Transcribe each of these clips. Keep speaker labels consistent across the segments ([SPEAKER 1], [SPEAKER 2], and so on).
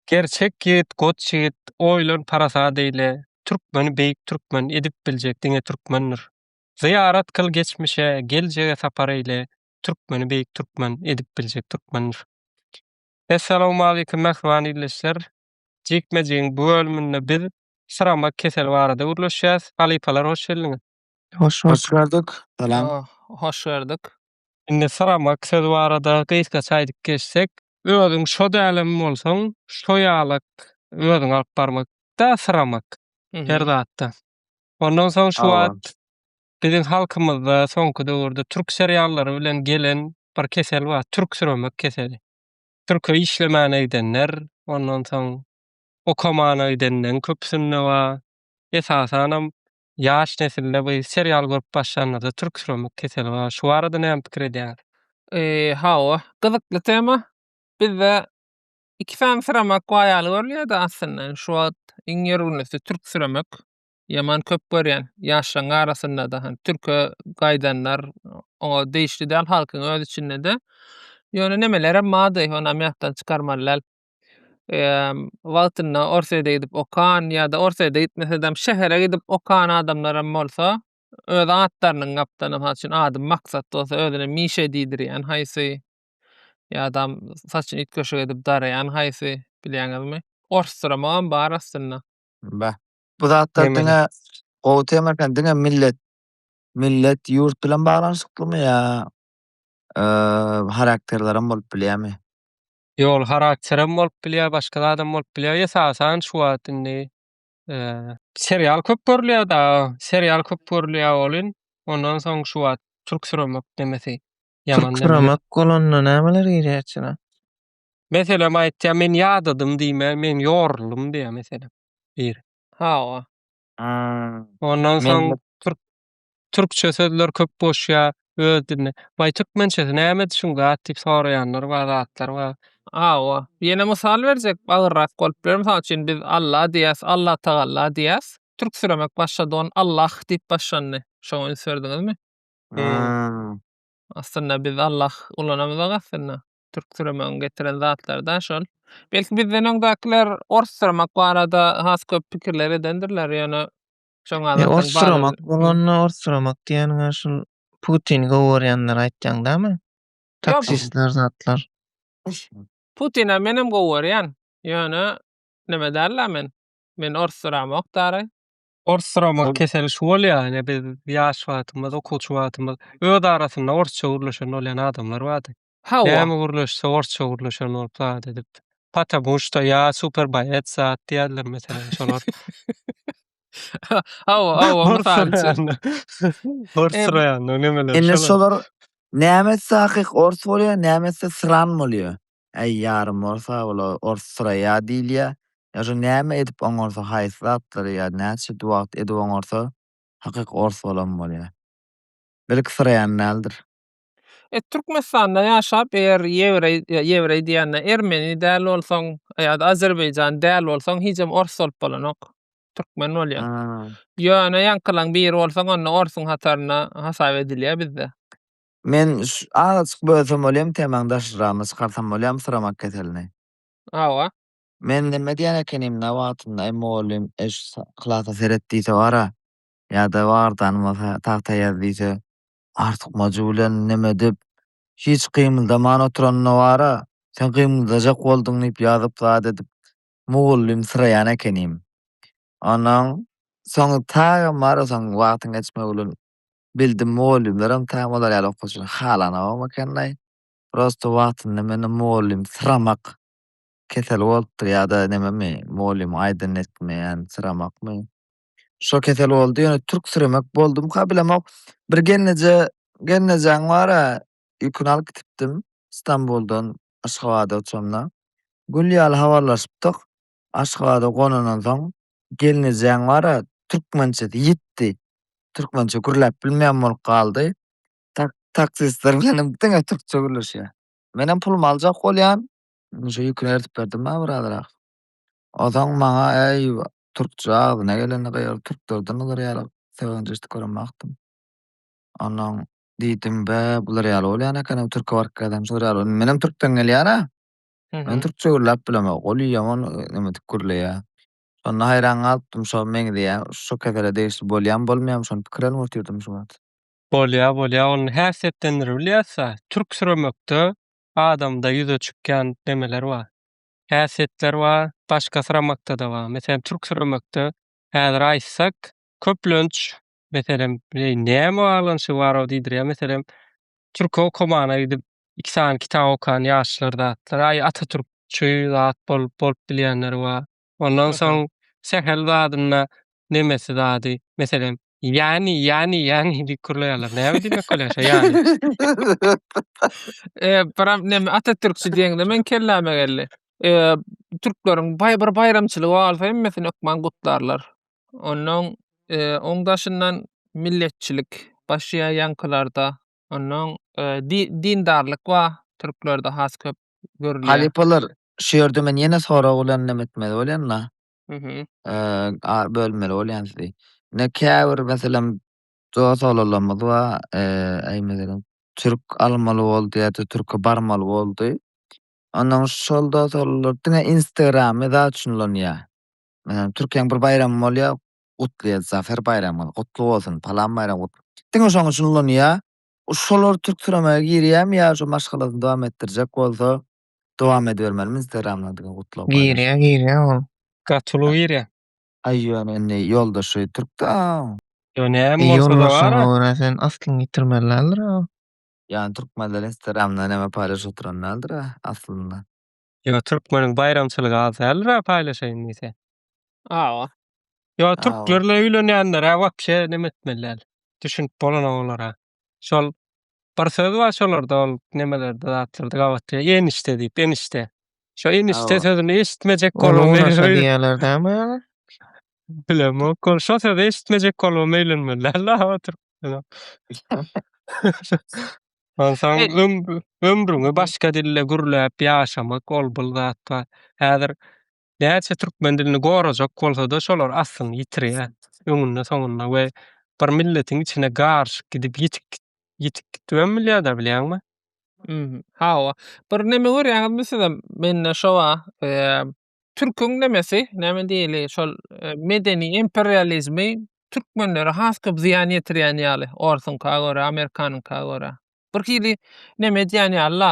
[SPEAKER 1] Gerçek ýigit goç ýigit oýlan parasat eýle türkmeni beýik türkmen edip biljek diňe türkmendir zyýarat kyl geçmişe geljege sapar eýle türkmeni beýik türkmen edip biljek türkmendir Essalawmalikim mähriban ildeşler jikmejigiň bu bölüminde biz syramak keseli barada gürleşýäs halypalar hoş geldiňiz Hoş hoş gördük. Salam. Hoş gördük. Indi syramak sözi barada gysgaça aýdyp geçsek. Özüň şo dälem bolsaň, şo ýalak özüňi alyp barmak da syramak her zatda. Ondan soň şu wagt biziň halkymyzda soňky döwürde türk seriallary bilen gelen bir kesel bar, türksüremek keseli. Türke işlemäne gidenler, ondan soň okamana gidenleriň köpüsinde bar. Esasanam Ýaş nesilde bu serial görüp başlanlarda türk süremik keseli bar. Şu barada näme pikir edýäňiz? Hawa, gyzykly tema. Bizde iki sany süremek baýaly görülýärdi aslynda. Şu wagt iň ýörgünlisi türk süremek. Ýaman köp görýän. Ýaşlaň arasynda-da hani türke gaýdanlar oňa degişli däl halkyň öz içinde-de. Ýöne nemelerem bardy, onam ýatdan çykarmaly däl. wagtynda Orsýede gidip okan ýa-da Orsýede gitmesedem şähere gidip okan adamlaram bolsa öz atlarynyň gapdalynda, mysal üçin, ady Maksat bolsa özüne Mişa diýdirýän haýsy ýa-da mysal üçin üýtgeşik edip daraýan haýsy bilýäňizmi? Orsduramakam bar aslynda. Bä. Bu zatlar diňe gowy tema eken. Diňe millet, millet, ýurt bilen baglanyşyklymy ýa harakterlerem bolup bilýärmi? Ýol harakterem bolup bilýär, başga zadam bolup bilýär. Esasan şu wagt indi serial köp görülýär da, serial köp görülýär welin, ondan soň şu wagt türk süremek demesi ýaman. Türk süremek bolanda nämeler girýär içine? Meselem aýtýar, men ýadadym diýmän, men ýoruldym diýýär meselem biri. Hawa. Ondan soň türk Türkçe sözler köp goşýa öz diline. Baý türkmençesi näme düşün zat diýip soraýanlar bar zatlar bar. Hawa. Ýene mysal berjek agyrrak bolup biler. Mysal üçin biz Alla diýýäs, Allatagalla diýýäs. Türksüremek başlady ony Allah diýip başlandy. Şoňa üns berdiňizmi? Haa. Aslynda biz Allah ulanamyzok aslynda. Türksüremegiň getiren zatlary da şol. Belki bizden öňdäkiler orssuramak barada has köp pikirler edendirler ýöne Şoňa E, adatdan orsuromak bala- bolanda orsuromak diýeniňe şul Putini gowy görýänleri aýtýaň dämi? Taksistler zatlar. Putine menem gowy görýän. Ýöne neme däl-la men. Men orsuramok daraý. Orsuromak Ol- keseli şu bolýar, ýene biz ýaş wagtymyz, okuwçy wagtymyz öz arasynda orsça gürleşen bolýan adamlar bardy. Hawa. Näme gürleşse orsça gürleşen bolup zat edip. Patabushta ýa super boýets zat diýerler meselem şolar. Hawa hawa mysal üçin. Ors roýanda nemeler. Indi şolar näme etse hakyk ors bolýar näme etse sran bolýar. Äý ýarym ors a ol ors sraýa diýilýär. Ýa şu näme edip oňarsa haýsy zatlary ýa näçe wagt edip oňarsa hakyk ors bolan bolýar. Belki sraýam däldir. E, Türkmenistanda ýaşap, eger ýewreý, ýa ýewreý diýende ermeni däl bolsaň, ýa-da azerbaýjan däl bolsaň, hijem ors bolup bolanok. Türkmen bolýaň. Ha. Ýöne ýaňkylaň biri bolsaň, onda orsuň hatarynda hasap edilýär bizde. Men ş azajyk bölsem bolýamy temaň daşragynda çykarsam bolýamy syramak keselini? Hawa. Men neme diýen ekenimdä wagtynda eý mugallym eý şu klasa seret diýse bara ýa-da wagyrdan bolsa tagta ýaz diýse artykmajy bilen neme edip, hiç gymyldaman oturanyna bar-a, sen gymyldajak bolduň diýip ýazyp zat edip, mugallymsyraýan ekenim. Onnoň soň taýam barasaň, wagtyň geçmegi bilen bildim, mugallymlaram taýam olar ýaly okuwçyny halanogam eken-laý. Prosto wagtynda mende mugallymsyramak keseli bolupdyr ýa-da nememi, mugallymyň aýdanyny etmeýän syramakmy, Şo kesel boldy ýöne türksüremek boldumka bilemok. Bir gelneje gelnejaň bar-a ýüküni alyp gitipdim Stambuldan Aşgabada uçanda. Gül ýaly habarlaşypdyk. Aşgabada gonandan soň gelnejaň bar-a türkmençesi ýitdi. Türkmençe gürläp bilmeýän bolup galdy. Tak taksistler bilen hem diňe türkçe gürleşýär. Menem pulumy aljak bolýan. Şo ýüküni eritip berdim-ä bir azrak. Ozaň maňa Äý, türkçe agzyna gelende gygyryp türklerden olar ýaly sögünç eşidip görenmokdym. Onnoň diýdim, Bä, bular ýaly bolýan eken-ow, türke baryp gelsem şular ýaly bol. Menem türkden gelýän-ä. Men türkçe gürläp bilemok. Ol ýaman neme edip gürleýär. Şonda haýran galypdym, şo meňzeýä, şu kesele degişli bolýam, bolmaýam şony pikir alyp otyrdymy şu wagt. Bolýar, bolýar. Ony häsiýetlendirip bilýäs-ä. Türk süremekde adamda ýüze çykýan nemeler bar. häsiýetler bar, başga syramakda-da bar. Meselem, türk syramakda häzir aýtsak, köplenç, meselem, eý, näme baglanyşygy bar-ow diýdirýär. Meselem, türki okamana gidip, iki sany kitap okan ýaşlar zatlar, aý, atatürkçi zat bolup, bolup bilýänleri bar. Ondan soň sähel zadynda nemesi zady, meselem, ýani, ýani, ýani diýip kürleýärler. Näme diýmek bolýar şo ýani? E, biram neme atatürkçi diýeňde meň kelläme geldi. E, türkleriň baý bir baýramçylygy bolsa hemmesini hökman gutlarlar. Onnoň, e, oň daşyndan milletçilik başlaýar ýaňkylarda. Onnoň, e, di, dindarlyk bar türklerde has köp görülýär. Halypalar, şu ýerde men ýene sorag bilen nem etmeli bolýan-da. Mhm. Eee, bölmeli bolýan sizi. Ne käbir meselem dost olalymyz bar, eee, eý meselem türk almaly boldy ýa-da türke barmaly boldy. Ondan şol dost olalar diňe Instagramy zat üçin ulanýar. Meselem türkiýäň bir baýramy bolýar, gutlaýar zafer baýramy, gutly bolsun, palan baýram gutly. Diňe şoň üçin ulanýar. Şolar türk türemege girýärmi ýa şu maşgalasyny dowam etdirjek bolsa, Dowam edibermeli mi instagramda diňe gutlag paýlaş. Girýä girýä ol. Gaty uly girýä. Aý ýöne indi ýoldaşy türkdä. Ýo näme bolsa-da Ýoldaşyňa bar-a. görä sen aslyňy ýitirmeli däldir-ä. Ýani türkmenler instagramda näme paýlaşyp oturan däldir-ä aslynda. Ýo türkmeniň baýramçylygy az däldir-ä paýlaşaýyn diýse. Hawa. Ýo Hawa. türklerle öýlenýänler-ä wapşe neme etmeli däl. Düşünip bolana olara. şol bir söz bar şolarda ol nemelerde zatlarda gabatda enişte diýip enişte. Şo enişde Hawa. sözüni eşitmejek Ol bolubam unaşa meýlerim. diýýärler dämi ýaly? Bilemok ol şo sözi eşitmejek bolubam meýlenmeli däldi aw oturyp. Onsoň Et- ömrü ömrüňi başga dilde gürläp ýaşamak ol bir zat bar. Häzir näçe türkmen dilini gorajak bolsada şolar aslyny ýitirýä öňünde soňunda we bir milletiň içine garyşyp gidip ýitik ýitik gitibem bilýada bilýäňmi. Hawa. Bir neme görýäňizmi sizem mende şo ba türküň nemesi näme diýeli şol medeni imperializmi türkmenlere has köp zyýan ýetirýän ýaly orsuňka görä amerikanyňka görä. Bir hili neme edýän ýaly-la,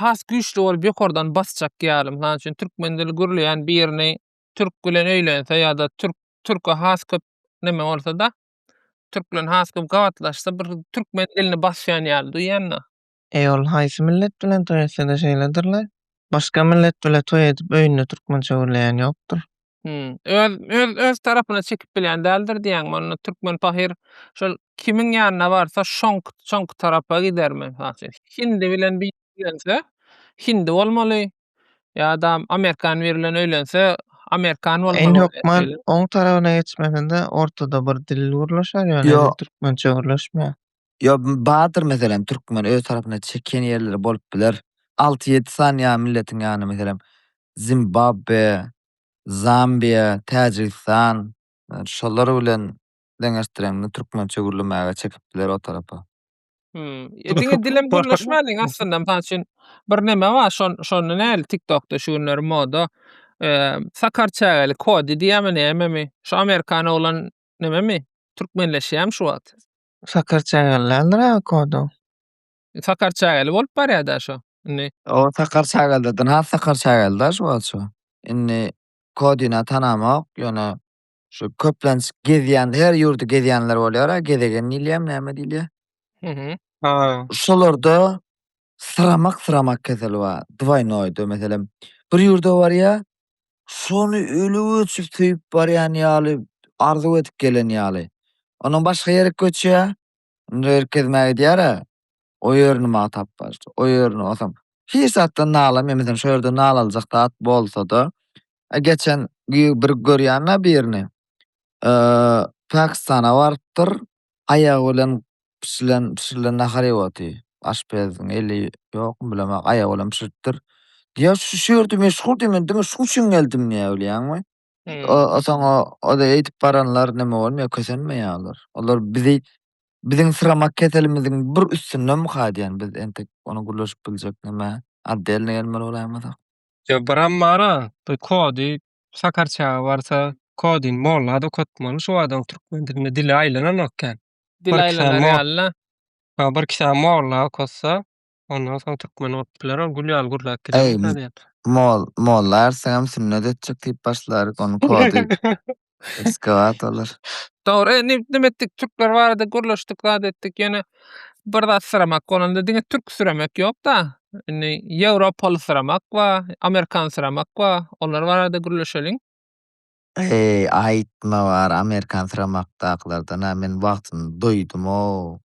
[SPEAKER 1] has güýçli bolup ýokardan basjak ýaly. Mysal üçin, türkmen dili gürleýän birini türk bilen öýlense ýa-da türk türke has köp neme bolsa-da, türk bilen has köp gabatlaşsa, bir türkmen dilini basýan ýaly duýýan-da. Eý, ol haýsy millet bilen toý etse-de şeýledir-le. Başga millet bile toý edip öýünde türkmençe gürleýän ýokdur. Hümm. Öz öz öz tarapyna çekip bilýän däldir diýýäňmi? Onda türkmen pahyr şol kimiň ýanyna barsa şoňk şoňky tarapa gidermi? Mysal üçin, hindi bilen biri öýlense, hindi bolmaly. Ýa-da amerikan biri bilen öýlense, amerikan bolmaly. Indi hökman oň tarabyna geçmesinde ortada bir dil gürleşer ýöne Ýok. türkmençe gürleşmeýär. Ýo bardyr meselem türkmen öz tarapyna çekýän ýerleri bolup biler. Alty ýedi sany ýa milletiň ýanyna meselem Zimbabwe, Zambiýa, Täjigistan şolar bilen deňeşdireňde türkmençe gürlemäge çekip biler o tarapa. Hum. E diňe dilem gürleşmäliň aslynda. Mysal üçin bir neme bar şon şonda näli tiktokda şu günler moda e, sakar çägeli kodi diýýärmi nämemi? Şu amerikan oglan nememi? Türkmenleşýärmi şu wagt? Sakar çägeli däldir aga kodu. Sakar çägeli bolup barýar da şu. Indi O sakar çägelde dyn has sakar çägeli da şu wagt şu. Indi kodyna tanamok ýöne şu köplenç gezýän her ýurdy gezýänler bolýar a gezegen diýilýärmi näme diýilýär. Mhm. Ha. Şolarda syramak syramak keseli bar. Dwaýnoýda meselem bir ýurda barýa, şony öli göçüp söýüp barýan ýaly, arzuw edip gelen ýaly. Ondan başga ýere göçýä, indi ýer gezmä gidýär-ä, o ýerini magtap barýar, o ýerini otam. Hiç zatdan nalamýar, meselem şo ýerde nalaljak zat bolsa-da, e geçen bir görýän-ä birini, e Pakistana barypdyr, Aýagy bilen bişirilen bişirilen nahar iýip otyr. Aşpeziň eli ýokmy bilemok, aýagy bilen bişiripdir. Diýýär, şu şu ýerde meşhur diýip, men diňe şuň üçin geldim diýýär, bilýäňmi? O, soň o, o-da eýdip baranlar näme bolmaýar, kösenmeýärler. Olar bizi, biziň syramak keselimiziň bir üstündemika diýen, biz entek ony gürleşip biljek näme, otdelny gelmeli bolaýmasak. Ýok, bir ammara, bir kody Sakar çaga barsa kodin mollada okatmaly şu adam türkmen dilinde dili aýlananok kän. Dil Bir kişä aýlanar mo- ýaly-la. Ha bir kişä molla okatsa ondan soň türkmen olup biler ol gül ýaly gürläp gider Eý, ýa-da diýen. Mol, molla ärseňem sünnet etjek diýip başlaryk onuň kody ekskawatolar. Dogry e nim nime etdik türkler barada gürleşdik zat etdik ýöne Bir zat syramak bolanda diňe türk süremek ýok-da. Indi ýewropaly syramak bar, amerikan syramak bar. Olar barada gürleşeliň. Eý, aýtma bar amerikan syramakdakylardan-a men wagtynda doýdum-ow.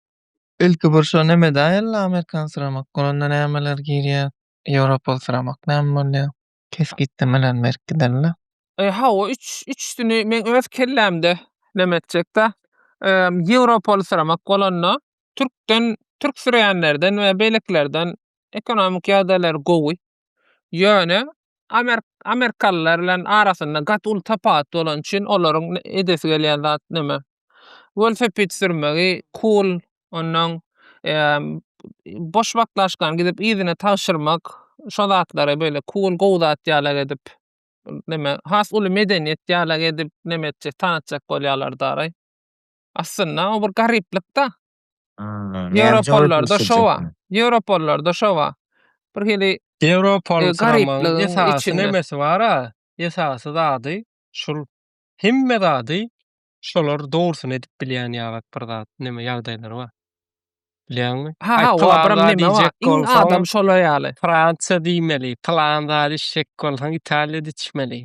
[SPEAKER 1] Ilki bir şo neme däl-le amerikan syramak bolanda nämeler girýär, ýewropaly syramak näme bolýar? kesgitlemeler berkidirildi. Hawa, üç üçüsini men öz kellämde neme etjek-dä. Ýewropaly syramak bolanda, türkden, türk süreýänlerden we beýlekilerden ekonomik ýagdaýlary gowy. Ýöne amerikalylar bilen arasynda gaty uly tapawut bolany üçin olaryň edesi gelýän zat neme, welosiped sürmegi, cool, ondan boş wagtlaşkany gidip yzyna tabşyrmak, şo zatlary böyle cool gowy zat ýalak edip neme has uly medeniýet ýalak edip neme etjek tanatjak bolýarlar daraý. Aslynda o bir garyplyk-da. Ýewropalylarda şo bar. Ýewropalylarda şo bar. Bir hili Ýewropalylaryň esasy nemesi bar-a, esasy zady şul hemme zady Şolar dogrusyny edip bilýän ýaly bir zat, neme ýagdaýlary bar. Bilýäňmi? Ha, ha, olar biram neme bar. Iň adam şolar ýaly. Fransiýa diýmeli, pylan zat içjek bolsaň Italiýada içmeli.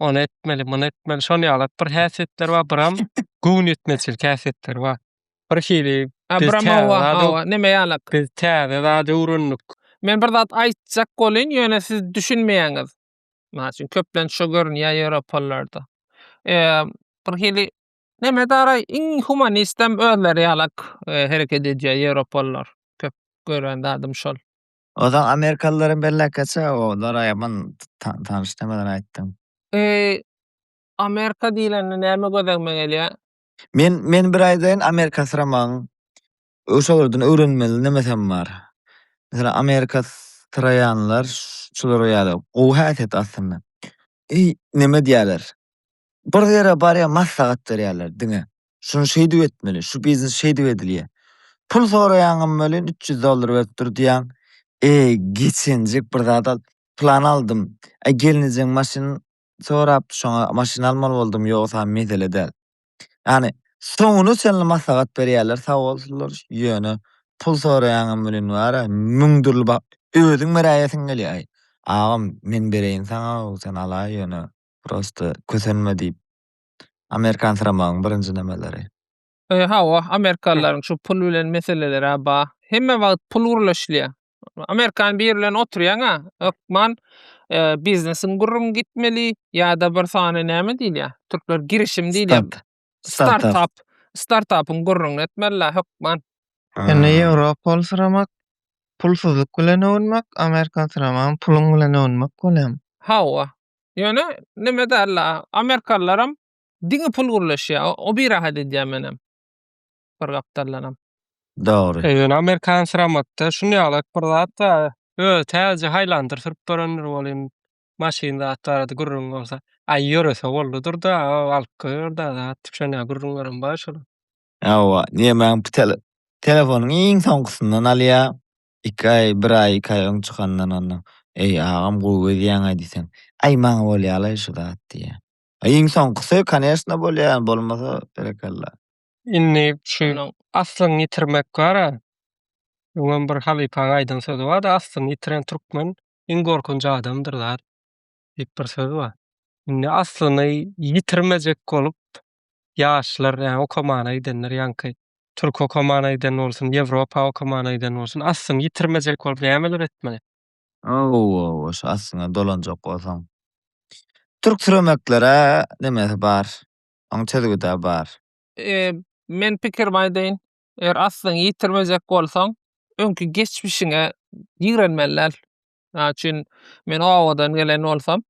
[SPEAKER 1] Ony etmeli, muny etmeli. Şonuň ýaly bir häsiýetleri bar, biram göwnüýetmezçilik häsiýetleri bar. Bir hili neme ýaly. Biz täze zat öwrendik. Men bir zat aýtjak bolyn, ýöne siz düşünmeýäňiz. Mysal üçin, köplenç şo görünýär ýewropalylarda. Eee, birhili neme dara iň humanistem özleri ýalak hereket edýär ýewropalylar. Köp gören zadym şol. Ozal amerikalylaram belläkçe, olara ýaman tanyş nemeler aýtdyň. Eee, amerika diýlende näme gözegime gelýär? Men, men bir aýdaýyn amerikasyramagyň Şolardan öwrenmeli nemesem bar. Meselem, Amerika syraýanlar şular ýaly gowy häsiýet aslynda. Eý, neme diýýärler? Bir ýere barýar, maslahat berýärler diňe. Şuny şeýdip etmeli, şu biznes şeýdip edilýär. Pul soraýaňam welin, üç ýüz dollar berip dur diýýäň. Eý, geçenjik bir zat al, plan aldym. Eý, gelnejeň maşyn sorap şoňa maşyn almaly boldum ýogsa mesele däl. Ýani soňuna çenli maslahat berýärler sagbolsunlar ýöne pul soraýaňam welin bara müň dürli ba özüň beräýesiň gelýäý agam men bereýin saňa sen ala ýöne prosta kösenme diýip amerikansyramagyň birinji nemeleri. Hawa amerikalylaryň şu pul bilen meselelerä ba hemme wagt pul gürleşilýä. Amerikan biri bilen oturýaňa hökman e, biznesiň gürrüň gitmeli ýa-da bir sany näme diýilýär? Türkler girişim diýilýär. Start. Startup. Startup. Startupyň gürrüňini etmeliler hökman. Indi Ýewropol syramak pulsuzlyk bilen öwünmek, Amerikan syramagam puluň bilen öwünmek bolýar. Hawa. Ýöne nime däl la, amerikalylaram diňe pul gürleşýär. O- O birahat edýär menem. bir gapdaldanam. Dogry. Özüni amerikan syramatda şuny alak bir zat da öz täze haýlandyr sürüp görendir bolýan maşyn zat barada gürrüň bolsa. Aý ýörese boldudyr da alyp goýar da zat şonýa gürrüňlerem bar şol. Hawa diýemän bu tele telefonyň iň soňkusyndan alýa. Iki aý bir aý iki aý öň çykandan onda. Eý agam gowy gezýäňä diýseň. Aý maňa bolýalaý şu zat diýýä. Iň soňkusy koneşna bolýa bolmasa berekella. Indi şu aslyňy ýitirmek bar-a. Öňem bir halypaň aýdan sözi bar-da, Aslyňy ýitiren türkmen iň gorkunç adamdyr zat diýip bir söz bar. Indi aslyny ýitirmejek bolup ýaşlar, ýa okamana gidenler, ýaňky türk okamana giden bolsun, ýewropa okamana giden bolsun, aslyny ýitirmejek bolup nämeler etmeli? Hawa-hawa, şu aslyňa dolanjak bolsaň, türksüremeklere nemesi bar? Oň çözgüda bar. Men pikirimi aýdaýyn. Eger aslyňy ýitirmejek bolsaň, öňki geçmişiňe ýigrenmeli däl. Mysal üçin, men obadan gelen bolsam,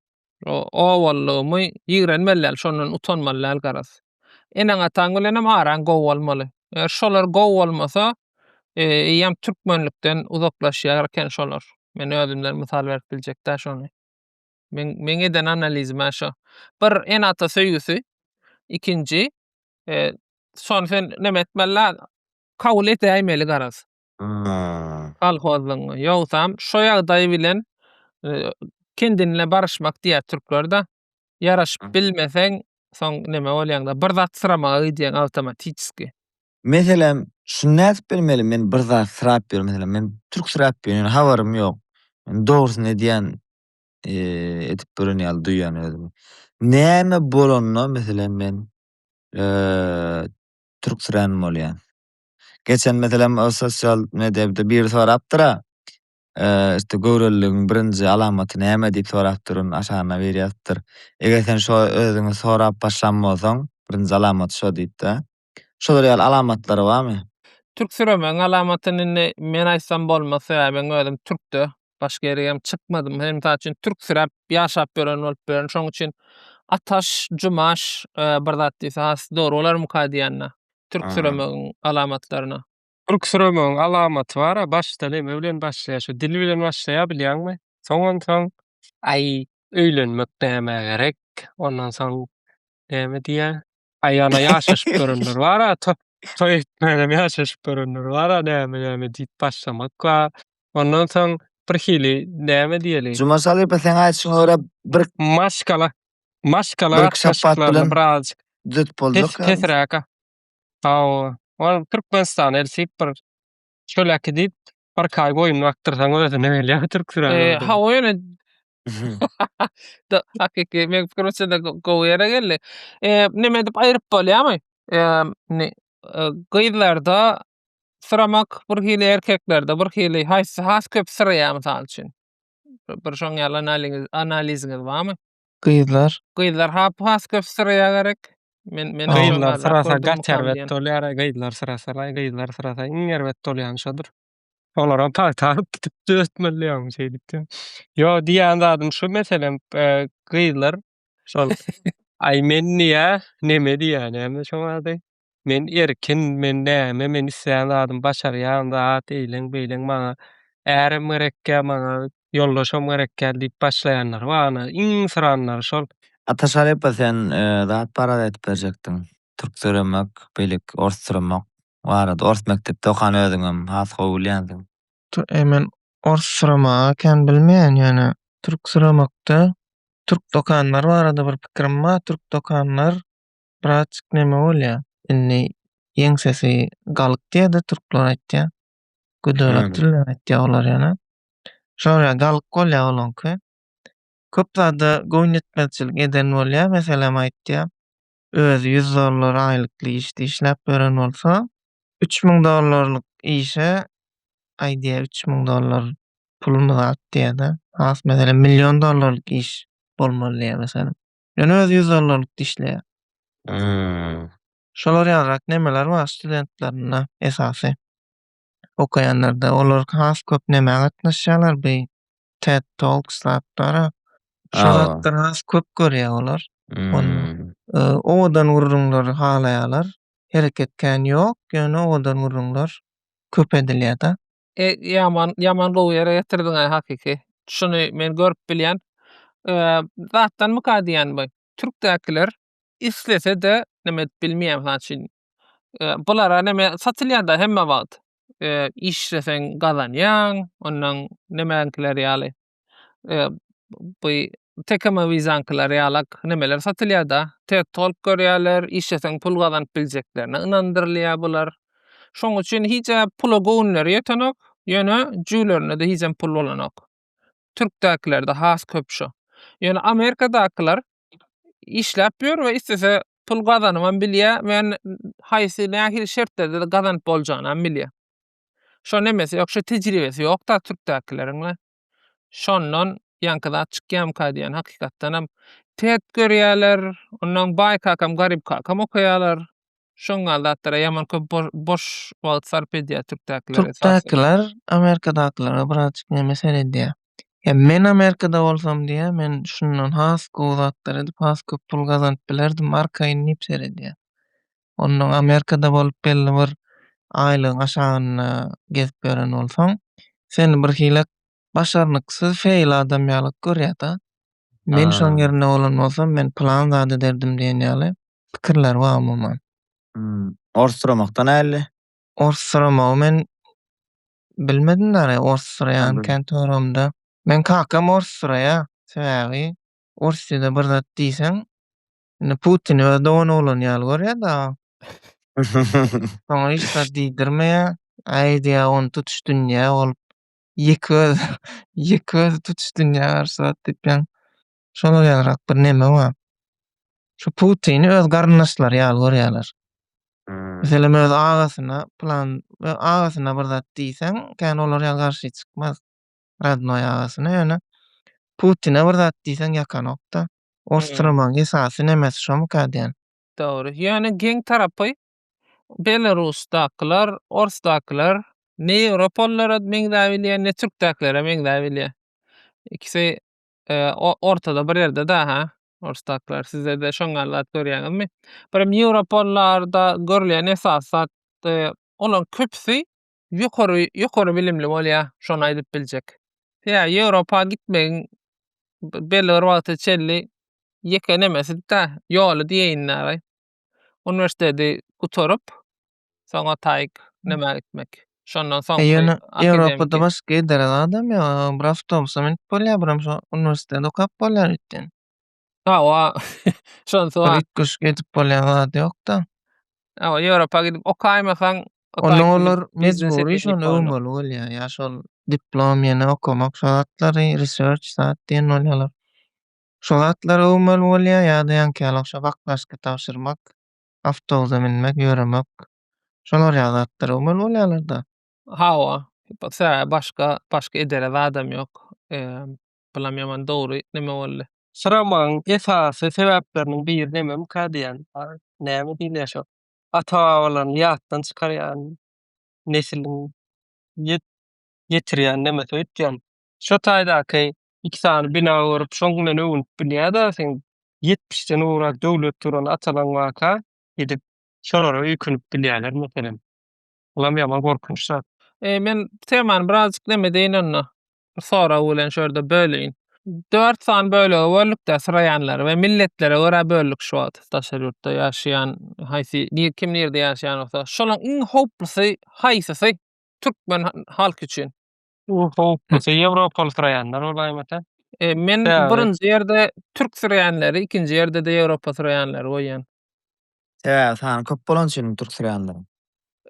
[SPEAKER 1] obalygymy ýigrenmeli däl, şondan utanmaly däl garaz. Eneň-ataň bilenem araň gowy bolmaly. Eger şolar gowy bolmasa, eýýäm türkmenlikden uzaklaşýar eken şolar. Men özümden mysal berip biljek-dä şony. Men men eden analizim ha şo. Bir ene ata söýgüsi. Ikinji e, son sen neme etmeli kabul edäýmeli garaz. Hmm. Kolhozlygyňy. Ýogsam şo ýagdaý bilen e, kendinle baryşmak diýär türkler da. Ýaraşyp Hmm. bilmeseň soň neme bolýaňda bir zat syramaga gidýäň awtomatiçki. Meselem, şuny nädip bilmeli? Men bir zat syrap ýörün, meselem, men türk syrap ýörün, ýöne habarym ýok. Men dogrusyny edýän, eee, edip gören ýaly duýýan özümi. Näme bolanda, meselem, men, eee, türksirän bolýan. Geçen, meselem, o sosial mediada biri sorapdyr-a, eee, işte, göwreliligiň birinji alamaty näme diýip sorapdyr, ony aşagyna biri ýazypdyr. Eger sen şo özüňi sorap başlan bolsaň, birinji alamaty şo diýip-de, Şolar ýaly alamatlary barmy? Türk süremeň alamatyny indi men aýtsam bolmaz sebäbi men özüm türkde başga ýere hem çykmadym hem mysal üçin türk süräp ýaşap ýören bolup bilerin şoň üçin ataş jumaş bir zat diýse has dogry bolarmyka diýýän türk süremegiň alamatlaryna. Kürküremegiň alamaty bar-a, başda neme bilen başlaýar, şu dil bilen başlaýar bilýäňmi? Soň onsoň. Aý, öýlenmek nämä gerek? Ondan soň näme diýýär? Aý, ana, ýaşaşyp görenler bar-a, toý etmänam ýaşaşyp görenler bar-a, näme-näme diýip başlamak bar. Ondan soň birhili näme diýeli? Juma Şalypa, seň aýdyşyňa görä, bir. Maşgala, maşgala gatnaşyklaryny birazajyk. Düz boljakmy? Pes-pesräk Haw, ol Türkmenistana eltip bir çöläki diýip birki aý goýun bakdyrsaň özüne gelýär türksüren Eee, goýun. hawa ýöne Da, hakyky, meň pikirimçe-de go- gowy ýere geldi. Eee, neme edip aýryp bolýarmy? Eee, indi, eee, gyzlarda syramak bir hili, erkeklerde bir hili, haýsy has köp syraýar mysal üçin? Bir şoň ýaly analiňiz, analiziňiz barmy? Gyzlar. Gyzlar hap has köp syraýa gerek. Men men gyzlar syrasa gaç erbet bolýar gyzlar syrasa laý gyzlar syrasa iň erbet bolýany şodur. Olaram pagta alyp gidip döretmeli ýagny şeýdip diýen. Ýo diýýän zadym şu meselem gyzlar şol aý men diýýä neme diýýä näme şoň ady. Men erkin, men näme, men islän zadym başarýan zat, eýleň, beýleň, maňa ärem gerekkä, maňa ýoldaşam gerekkä diýip başlaýanlary bar, ana, iň syranlary şol. Ata Şarypa sen zat barada aýdyp berjekdiň. Türk döremek beýleki ors süremek barada. Ors mekdepde okan özüňem has gowy bilýänsiň. Eý men ors süremegi kän bilmeýän ýöne türk süremekde türk dokanlary barada bir pikirim bar türk dokanlar Braçk neme bolýa indi ýeňsesi galyk diýede türkler aýtýa. Göderak Näme? dilden aýtýa olar ýöne. Şoýa galyk bolýa olaňky. Köp zada goýun etmezçilik eden bolýa meselem aýtýa. Özi 100 dollar aýlykly işde işläp ýören bolsa 3000 dollarlyk işe aý diýä 3000 dollar pulumyz at diýede. Has meselem million dollarlyk iş bolmaly diýä meselem. Ýöne özi ýüz dollarlykda işleýär. Hmm. Şolar ýalyrak nemeler bar studentlerinde esasy. Okaýanlarda olar has köp nämä gatnaşýarlar bu TED Talks zatlary. Şu zatlar has köp görýär olar. Hmm. Owadan gürrüňleri halaýarlar. Hereket kän ýok, ýöne owadan gürrüňler köp edilýär-de. E, ýaman, ýaman gowy ýere getirdiň-aý hakyky. Şuny men görüp bilýän. E, zatdanmyka diýýän bu. Türkdäkiler islese-de neme edip bilmeýär, mysal üçin. E, bulara neme satylýar-da hemme wagt. E, işleseň gazanýaň, ondan nemäňkiler ýaly. e, bu tekeme wizankiler ýalak nemeler satylýar-da. Ted Talk görýärler, işleseň pul gazanyp biljeklerine ynandyrylýar bular. Şoň üçin hiçe pula göwünleri ýetenok, ýöne jüwlerinde-de hiçem pul bolanok. Türkdäkilerde has köp şu. Ýöne Amerikadakylar işläp ýör we istese pul gazanybam bilýär we haýsy nähili şertlerde gazanyp boljagyny hem bilýär. Şo nemesi ýok, şo tejribesi ýok-da türkdäkileriň we şondan ýaňky zat çykýamyka diýen hakykatdanam ters görýärler. Onnoň baý kakam, garyp kakam okaýarlar. Şoň ýaly zatlara ýaman köp boş wagt sarp edýär türkdäkiler esasan. Türkdäkiler Amerikadakylary birazjyk neme seredýär. Ýa men Amerikada bolsam diýýär, men şundan has gowy zatlar edip, has köp pul gazanyp bilerdim arkaýyn diýip seredýär. Ondan Amerikada bolup belli bir aýlygyň aşagynda gezip ýören bolsaň, seni birhili başarnyksyz feýl adam ýaly görýär-de. Men şoň ýerinde bolan bolsam, men pylan zat ederdim diýen ýaly pikirler bar umuman. Ors suramakda näli? Ors suramagy men bilmedim däl-ä, ors suraýan kän töweregimde. Meň kakam ors suraýar. Sebäbi ors ýüze bir zat diýseň, Indi Putini öz dogan oglan ýaly görýär-de. Soňa hiç zat diýdirmeýär. Äý diýýär, ony tutuş dünýä ol ýeke öz, ýeke özi tutuş dünýä garşy zat diýipýän. Şolar ýalyrak bir neme bar. Şu Putini öz garyndaşlary ýaly görýärler. Hmm. Meselem, öz agasyna plan, agasyna bir zat diýseň, kän olar ýaly garşy çykmaz. Radnoý agasyna ýöne Putine bir zat diýseň ýakanokda. Ostramaň esasy nemesi şomyka diýen. Dogry. Ýöne geň tarapy Belarusdakylar, orsdakylar ne ýewropalylara meňzäbilýär, ne türkdäkilere meňzäbilýär. Ikisi ortada bir ýerde daha orsdakylar. Sizede şoň ýaly zat görýäňizmi? Birem ýewropalylarda görülýän esasy zat olaryň köpüsi ýokary ýokary bilimli bolýa şony aýdyp biljek. Ýa Ýewropa gitmegiň belli bir wagta çenli ýeke nemesidi-da, ýoly diýeýin dagy. Uniwersiteti gutaryp, soňa taýyk nämä gitmek. Şondan soň. E ýöne Ýewropada başga edere zadam ýok. Bir awtobusa münüp bolýar, biram şo uniwersiteti okap bolýar öýtýän. Hawa, şonysy bar. Gyş geçip bolýan zat ýok-da. Hawa, Ýewropa gidip okaýmasaň, Onda olar mejbury şony öwmeli bolýar. Ýa şol diplom, ýene okamak şo zatlary, research zat diýen bolýarlar. Şo zatlary öwmeli bolýar ýa-da ýaňkyýaly ogşap aklaşka tabşyrmak, awtobusa münmek, ýöremek. Şolar ýaly zatlary öwmeli bolýarlar-da. Hawa, sebäbi başga, başga ederesi adam ýok. Bulam ýaman dogry neme boldy. Syramagyň esasy sebäpleriniň biri nememka diýýän. Näme diýilýär şo ata-babalaryny ýatdan çykarýan nesiliň ýet ýetirýän nemesi öýtýän. Şo taýdaky iki sany bina görüp şoň bilen öwünip bilýäda seň ýetmişden gowrak döwlet duran atalaň barka gidip şolara öýkünip bilýäler meselem. Olam ýaman gorkunç zat. E, men temany birazjyk näme deýin onda. Bir sorag bilen şu ýerde böleýin. Dört sany bölege böldükde syraýanlary we milletlere görä böldük şu wagt daşary ýurtda ýaşaýan haýsy nir kim nirde ýaşaýan bolsa şolaň iň howplusy haýsysy türkmen halky üçin? Bu howplusy ýewropaly syraýanlar bolýar aýmata. E, men Sebäbi- birinji ýerde türk syraýanlary, ikinji ýerde-de ýewropa syraýanlary goýýan. Sebäbi sany köp bolany üçinmi türk süreýänleriň?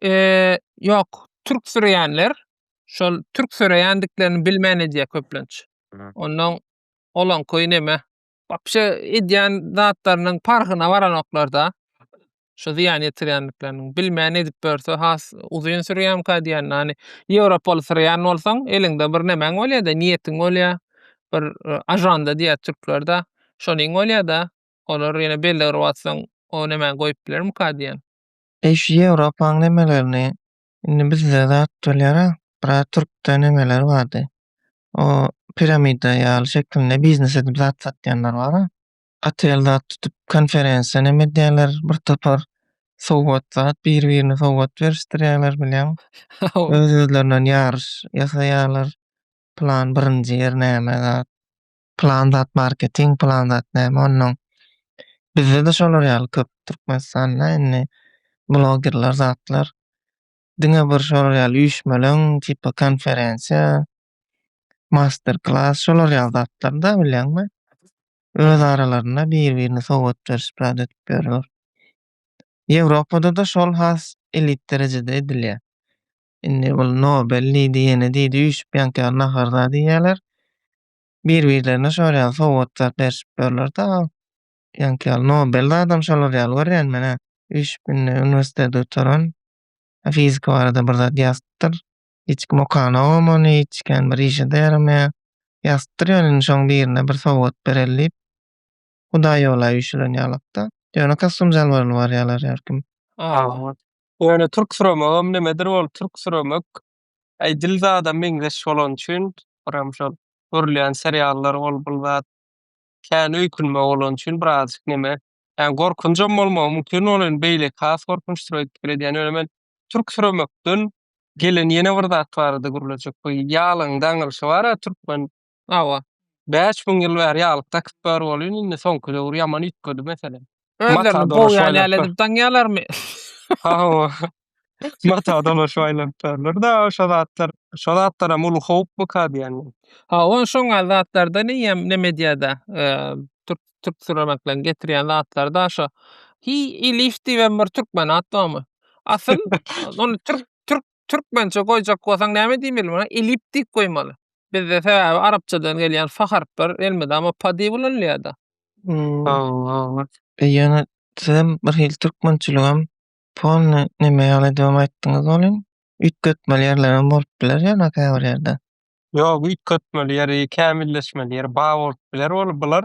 [SPEAKER 1] Eee, ýok. Türk süreýänler şol türk süreýändiklerini bilmän edýär köplenç. Hı. Ondan olanky neme? Wapşe edýän zatlarynyň parhyna baranoklar-da. Şu zyýan ýetirýändikleriniň. Bilmän edip ýörse has uzyn sürýämkä diýýän. Ýani ýewropaly süreýän bolsaň, eliňde bir nemäň bolýar-da, niýetiň bolýar. Bir e, ajanda diýýär türkler-de. Şonuň bolýar-da. Olar ýene belli gyryp atsaň, o nemäni goýup bilermika diýen. Eý şu Ýewropaň nemelerini indi bizde zat bolýara, biraz türkde nemeler bardy. O piramida ýaly şekilinde biznes edip zat satýanlar bara. Otel zat tutup konferensiýa neme edýärler bir topar sowgat zat biri birine sowgat berişdirýärler bilýäň. Öz özlerinden ýaryş ýasaýarlar plan birinji ýer näme zat. Pylan zat marketing, pylan zat näme onnoň. Bizde-de şolar ýaly köp Türkmenistanda indi blogerler zatlar. Diňe bir şolar ýaly üýşmeleň, tipa konferensiýa, master klass şolar ýaly zatlarda bilýäňmi. Öz aralarynda bir-birine sowgat berşip zat edip ýörler. Ýewropada-da şol has elit derejede edilýär. Indi ol Nobel diýdi, ýene diýdi üýşüp ýaňky ýaly nahar zady iýýärler. bir birlerine şol ýaly sowgatlap berşip ýörler da ol ýaňky ýaly nobel zadam şolar ýaly görýän menä üýşüp indi uniwersiteti gutaran fizika barada bir zat ýazypdyr hiç kim okanogam ony hiç kän bir işede ýaramaýa ýazypdyr ýöne indi şoň birine bir sowgat bereli diýip hudaý ýola üýşülen ýalykda ýöne kostum jalbaryly barýalar her kim. Ýöne türk süremek hem nemedir ol türk süremek Aý Dilzada meňzeş bolan üçin biram şol görülýän seriallar ol bul zat kän öýkünme bolan üçin birazjyk neme ýani gorkunjam bolmagy mümkin ol in beýleki has gorkunçdyr öýdüp pikir edýän ýöne men türk süremekden gelen ýene bir zat barada gürlejek bu ýalaň daňylşy bara türkmen Hawa. Bäş müň ýyl bäri ýaglyk dakyp bör bolýan indi soňky döwür ýaman üýtgedi mesele. Özlerini bogýan ýaly edip daňýalarmy? Hawa. Mata dolaşyp aýlanyp börler-dä şo zatlar. Şo zatlaram uly howpmyka diýýän men. Hawa şoňa zatlardan eýýäm neme edýär-dä. Türk türk süremekleriň getirýän zatlary-da şo. Hi i lif diýibem bir türkmen at barmy? Asyl ony türk türk Türkmençe goýjak bolsaň näme diýmeli muňa? Elip diýip goýmaly. Bizde sebäbi arapçadan gelýän fa harplar elmydama pa diýip ulanylýar-da. Sagbolsun. Ýöne sizem bir hili türkmençiligem polny neme ýaly edibem aýtdyňyz welin, üýtgetmeli ýerlerem bolup biler ýöne käbir ýerde. Ýok üýtgetmeli ýeri, kämilleşmeli ýeri bar bolup biler weli bular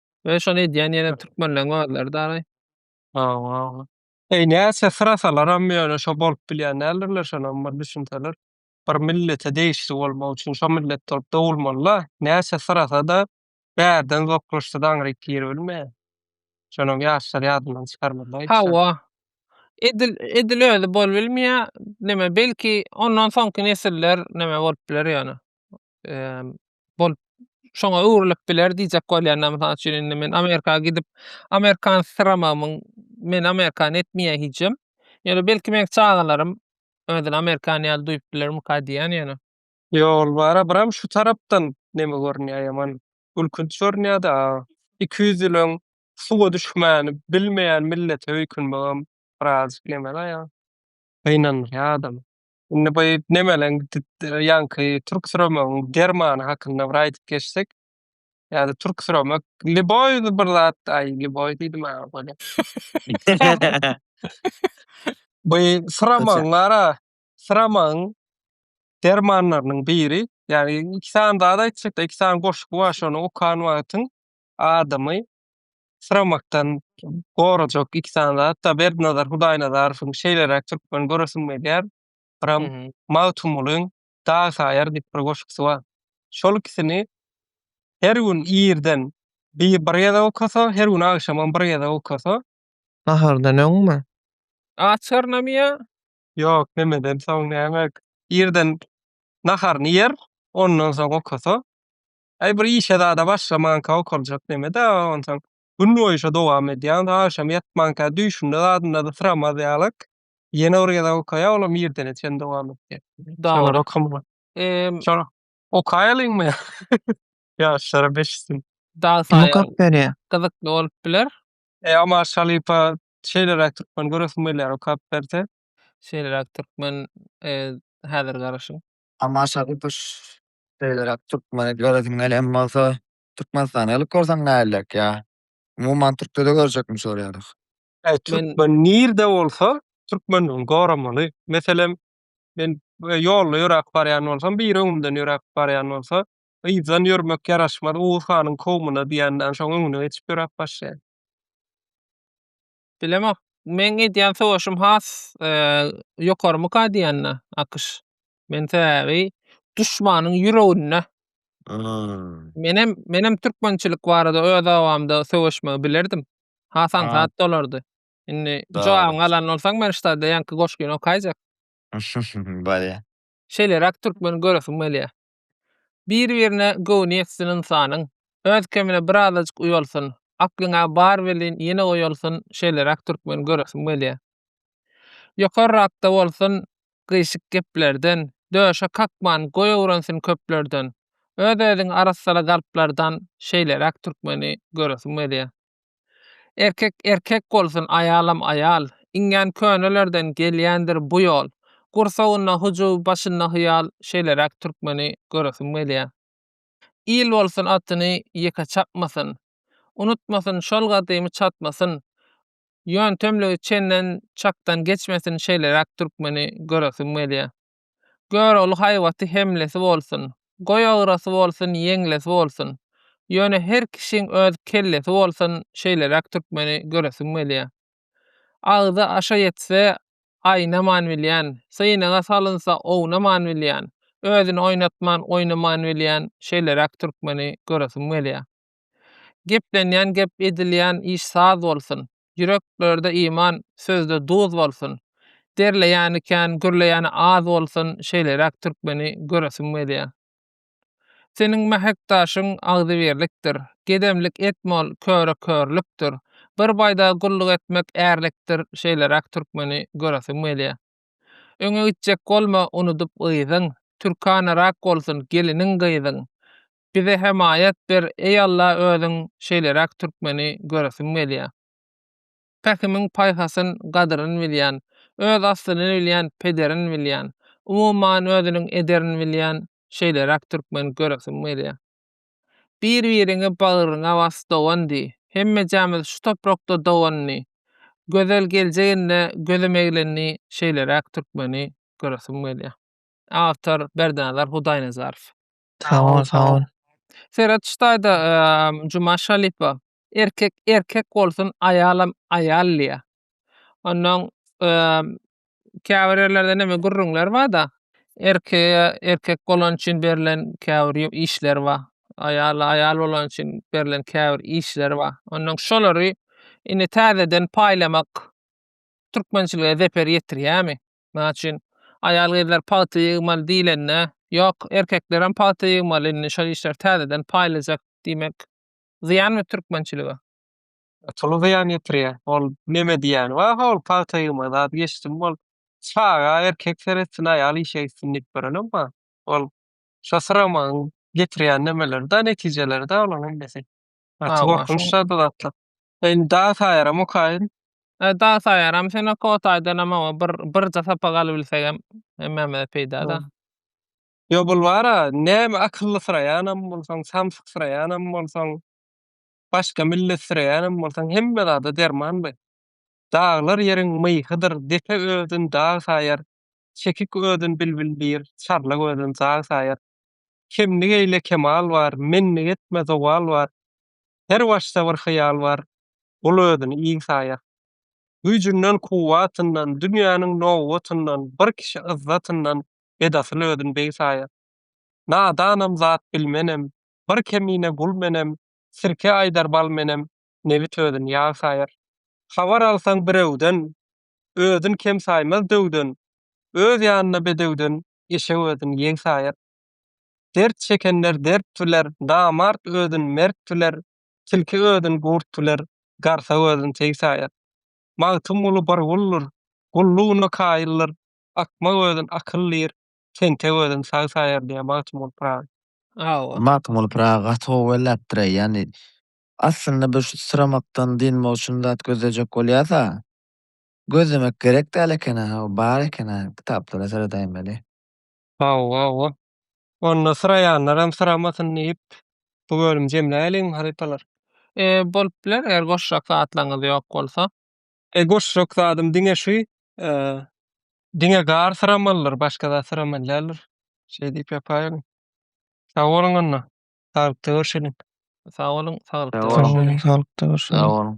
[SPEAKER 1] Öý şony edýän ýene türkmenleň özleri daraý. Awa. Eý näçe syrasalaram ýöne şo bolup bilýän däldirler şonam bir düşünseler. Bir millete degişli bolmak üçin şo millet bolup dogulmalyda. Näçe syrasada bärden zoklaşsa daňryk gir bilmeýär. Şonam ýaşlar ýadyndan çykarmalyda hiç zat. Hawa. Edil edil özi bolubilmeýär. Neme belki ondan soňky nesiller neme bolup biler ýöne. bolup şoňa öwrülip biler diýjek bolýan mysal üçin indi men amerika gidip amerikan syramamyň men amerikan etmeýä hijem ýöne belki meň çagalarym özüni amerikan ýaly duýup bilermika diýýän ýöne Ýol bara biram şu tarapdan neme görünýä ýaman gülkünç görünýäda iki ýüz ýyl öň suwa düşmäni bilmeýän millete öýkünmegem birazjyk nemeda ýa gynandyrýa adamy. Indi bu nemeleň ýaňky türksüremegiň dermany hakynda bir aýdyp geçsek. Ýa-da türksüremek liboý bir zat, aý liboý diýdim-ä bolýa. Bu syramagyň ara syramagyň dermanlarynyň biri. Ýagny iki sany zat aýtjak-da, iki sany goşgy bar, şony okan wagtyň adamy syramakdan gorajak iki sany zat-da Berdinazar Hudaýnazarowyň Şeýleräk türkmen göresim gelýär, biram Magtymgulyň Dag saýar diýip bir goşgusy bar. Şol ikisini her gün irden bir bir gezek okasa, her gün agşamam bir gezek okasa. Nahardan öňmi? Açarynamy ýa? Ýok, nämeden soň näme. Irden naharyny ýer, ondan soň okasa. Aý bir işe zada başlamanka okaljak nemedä onsoň günboýy şo dowam edýän agşam ýatmanka düýşünde zadynda-da syramaz ýalyk ýene bir gezek okaýa olam irdene çen dowam etjek. Şolar okamaga. Emm. Şolar okaýalyňmy ýaşlara beşisin. Dag saýa gyzykly bolup biler. Eý Omar Şalypa şeýleräk türkmen göresim gelýär okap berse. Şeýleräk türkmen häzir garaşyň. Tamaşa tutuş şeýleräk türkmene göresim gelýän bolsa Türkmenistana gelip görseň näleräk ýa umuman türkçede görjekmi şu ýaly. Eý türkmen nirde bolsa türkmenligini goramaly meselem men ýolda ýöräp barýan bolsam biri öňümden ýöräp barýan bolsa yzdan ýörmek ýaraşmaz oguz hanyň kowmuna diýenden soň öňüne geçip ýöräp başlaýan. Bilemok. Meň edýän sowaşym has ýokarymyka diýende AKŞ. Men sebäbi duşmanyň ýüreginde. Menem menem türkmençilik barada öz obamda söweşmegi bilerdim. Has aňsat bolardy. Indi jogabyňy alan bolsaň men ştada ýaňky goşgyny okaýjak. Bolýa. Şeýleräk türkmen göresim gelýä. Bir-birine göwni ýetsin ynsanyň, Öz kemine bir azajyk uýalsyn, Aklyň-a bar welin, ýene oýalsyn, Şeýleräk türkmen göresim gelýär. Ýokarrakda bolsun gyýşyk geplerden, Döşe kakman, goý öwrensin köplerden, Öz-özüňi arassala galplardan, Şeýleräk türkmeni göresim gelýär. Erkek erkek bolsun aýalam aýal Iňňän könelerden gelýändir bu ýol Gursagynda hyjuw başynda hyýal Şeýleräk türkmeni göresim gelýä Il bolsun atyny ýeke çapmasyn Unutmasyn şol gadymy çatmasyn Ýöntemligi çenden çakdan geçmesin Şeýleräk türkmeni göresim gelýä. Gör ol haýbaty hemlesi bolsun, Goý agrasy bolsun, ýeňlesi bolsun. Ýöne her kişiň öz kellesi bolsun şeýleräk türkmeni göresim gelýä. Agzy aşa ýetse aýnaman bilýän, synaga salynsa ownaman bilýän, özüni oýnatman oýnaman bilýän şeýleräk türkmeni göresim gelýä. Geplenýän gep edilýän iş saz bolsun. Ýüreklerde iman, sözde duz bolsun. Derleýäni kän, gürleýäni az bolsun, şeýleräk türkmeni göresim gelýä. Seniň mähek daşyň agzybirlikdir. Gedemlik etme ol köre körlükdir. Bir baýdaga gulluk etmek ärlikdir, şeýleräk türkmeni göresim gelýä. Öňe gitjek bolma unudyp yzyň, türkanarak bolsun geliniň-gyzyň. Bize hemaýat ber eý Alla özüň şeýleräk türkmeni göresim gelýä. Pähimiň paýhasyn gadyryn bilýän, öz aslyny bilýän pederin bilýän, umuman özüniň ederin bilýän şeýleräk türkmen göresim gelýä. Bir biriňi bagryňa bas dogan diý, hemmejämiz şu toprakda doganny, gözel geljeginde gözüm eglenni şeýleräk türkmeni göresim gelýä. Awtor, Berdinazar Hudaýnazarow. Sag ol, sag ol. Seret şu taýda Juma Şalipa erkek erkek bolsun aýalam aýal diýýär. Ondan käbir ýerlerde neme gürrüňler barda erkege erkek bolany üçin berlen käbir işler bar. Aýala aýal bolany üçin berlen käbir işler bar. Ondan şolary indi täzeden paýlamak türkmençilige zeper ýetirýärmi? Näme üçin? Aýal-gyzlar pagta ýygmaly diýlende, Ýok, erkeklerem pagta ýygmaly, indi şol işleri täzeden paýlajak diýmek zyýanmy türkmençilige? Tuly zyýan ýetirýär. Ol neme diýýäni bar, ha ol pagta ýygma zady geçdim, ol çaga erkek seretsin, aýal işe gitsin diýip berenem bar. Ol şo syramagyň getirýän nemeleri-de, netijeleri-de olaryň hemmesi. Gaty gorkunç zady zatlar. Indi dagy saýaram okaýyn. He, dagy saýaram. Sen oka otaýdanam oňa bir birje sapak alybilsegem hemmämize peýda-da. Ýo, bul bar-a, näme akyllysyraýanam bolsaň, samsyksraýanam bolsaň, başga milletsiraýanam bolsaň, hemme zada derman bi. Daglar ýeriň myhydyr, depe özün dag saýar, çekik özün bilbil bir, çarlak özün zag saýar. Kemlik eýle kemal bar, menlik etme zowal bar, Her başda bir hyýal bar, Ol özüni iň saýar. Güýjünden, kuwwatyndan, Dünýäniň nobatyndan, Bir kişi yzzatyndan, Edasyl özün beg saýar. Nadanam, zat bilmenem, Bir kemine gul menem, Sirke aýdar bal menem, Nebit özün ýag saýar. Habar alsaň birewden, Özün kem saýmaz döwden, Öz ýanyna bedewden, Eşek özün ýeg saýar. Dert çekenler dert biler, namart özün mert biler, tilki özün gurt biler, garsak özün teý saýar. Magtymguly bir guldur, gullugyna kaýyldyr, akmak özün akyl diýr, tentek özün sag saýar diýýär Magtymguly Pyragy. Hawa. Magtymguly Pyragy gaty gowy belläpdir-eý, ýagny aslynda bir şu syramakdan dynmak üçin zat gözlejek bolýarsa, gözlemek gerek däl eken-ä, bar eken-ä, kitaplara seredeýmeli. Hawa-hawa. Onda syraýanlaram syramasyn diýip, bu bölümi jemläýeliňmi, halypalar? E, bolup biler, eger goşjak zatlaryňyz ýok bolsa. E, goşjak zadym diňe şu, e, diňe gar syramalydyr, başga zat syramaly däldir. Şeý diýip ýapaýyň. Sag boluň onda. Saglykda görşeliň. Sag boluň, saglykda görşeliň. Sag boluň, saglykda görşeliň. Sag boluň.